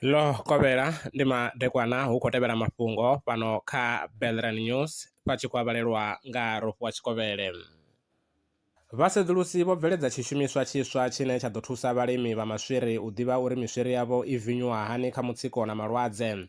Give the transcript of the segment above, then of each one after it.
ḽo kovhela ndi madekwana hu khou tevhela mafhungo fhano kha Belran News vha tshi khou avhalelwa nga Rofhiwa Tshikovhele. Vhasedzulusi vho bveledza tshishumiswa tshiswa tshine tsha ḓo thusa vhalimi vha maswiri u ḓivha uri miswiri yavho i vinyuwa hani kha mutsiko na malwadze.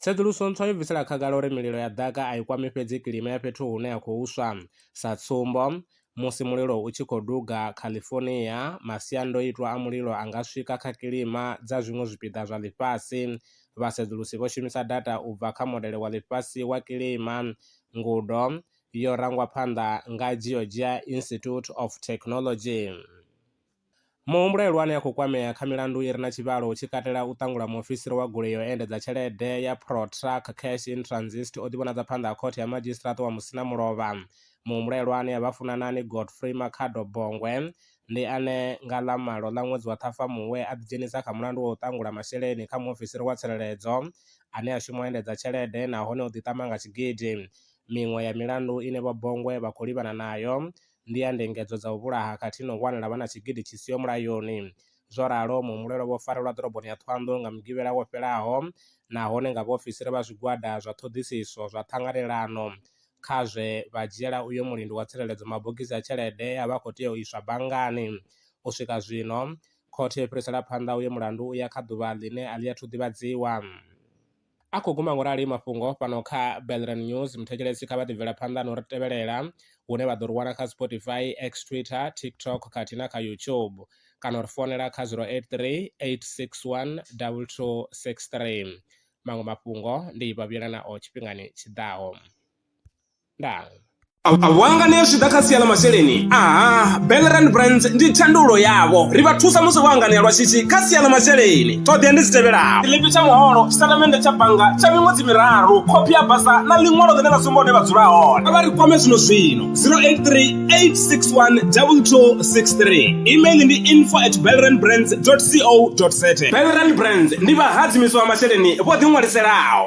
Tsedzuluso ntswa yo bvisela khagala uri mililo ya ḓaka a i kwami fhedzi kilima ya fhethu hune ya khou swa. Sa tsumbo, musi mulilo u tshi khou duga California, masiandoitwa a mulilo a nga swika kha kilima dza zwiṅwe zwipiḓa zwa ḽifhasi. Vhasedzulusi vho shumisa data u bva kha Modele wa Ḽifhasi wa Kilima, ngudo yo rangwa phanḓa nga Georgia Institute of Technology. Muhumbulelwa ane a khou kwamea kha milandu i re na tshivhalo hu tshi katela u ṱangula muofisiri wa goloi ya u endedza tshelede ya ProTruck Cash in Transit o ḓivhonadza phanḓa ha khothe ya madzhisiṱiraṱa wa Musinamulovha. Muhumbulelwa ane a vha Funanani Godfrey Makhado Bongwe ndi ane nga ḽa malo ḽa ṅwedzi wa Ṱhafamuhwe a ḓidzhenisa kha mulandu wa u ṱangula masheleni kha muofisiri wa tsireledzo ane a shuma u endedza tshelede nahone o ḓiṱama nga tshigidi. Miṅwe ya milandu ine Vho Bongwe vha khou livhana nayo ndi ya ndingedzo dza u vhulaha khathihi na u wanela vhana tshigidi tshi siho mulayoni. Zwo ralo, muhumbulelwa vho farelwa ḓoroboni ya Thohoyandou nga Mugivhela wo fhelaho nahone nga vhaofisiri vha zwigwada zwa ṱhoḓisiso zwa ṱhanganelano kha zwe vha dzhiela uyo mulindi wa tsireledzo mabogisi a tshelede e a vha a khou tea u iswa banngani. U swika zwino, khothe yo fhirisela phanḓa uyo mulandu u ya kha ḓuvha ḽine a ḽi athu ḓivhadziwa. A khou guma ngo rali mafhungo fhano kha Belran News. Muthetshelesi kha vha ḓi bvela phanḓa na u ri tevhelela hune vha ḓo ri wana kha Spotify, X, Twitter, TikTok khathihi na kha YouTube kana u ri founela kha 083 861 2263. Maṅwe mafhungo ndi vha vhuyela nao tshifhingani tshi ḓaho. ndaa vhuanga ne zwi ḓa kha sia ḽa masheleni aha belran brands ndi thandulo yavho ri vha thusa musi vho anganea lwa shishi kha sia ḽa masheleni ṱhoḓea ndi dzi tevhelaho tshiḽipi tsha muholo tshitatamennde tsha bannga tsha miṅwedzi miraru khophi ya basa na ḽiṅwalo ḽine ḽa sumba hune vha dzula hone vha ri kwame zwino zwino 0838612263 email ndi info at belran brands co za belran brands ndi vhahadzimiswa masheleni vho ḓiṅwaliselaho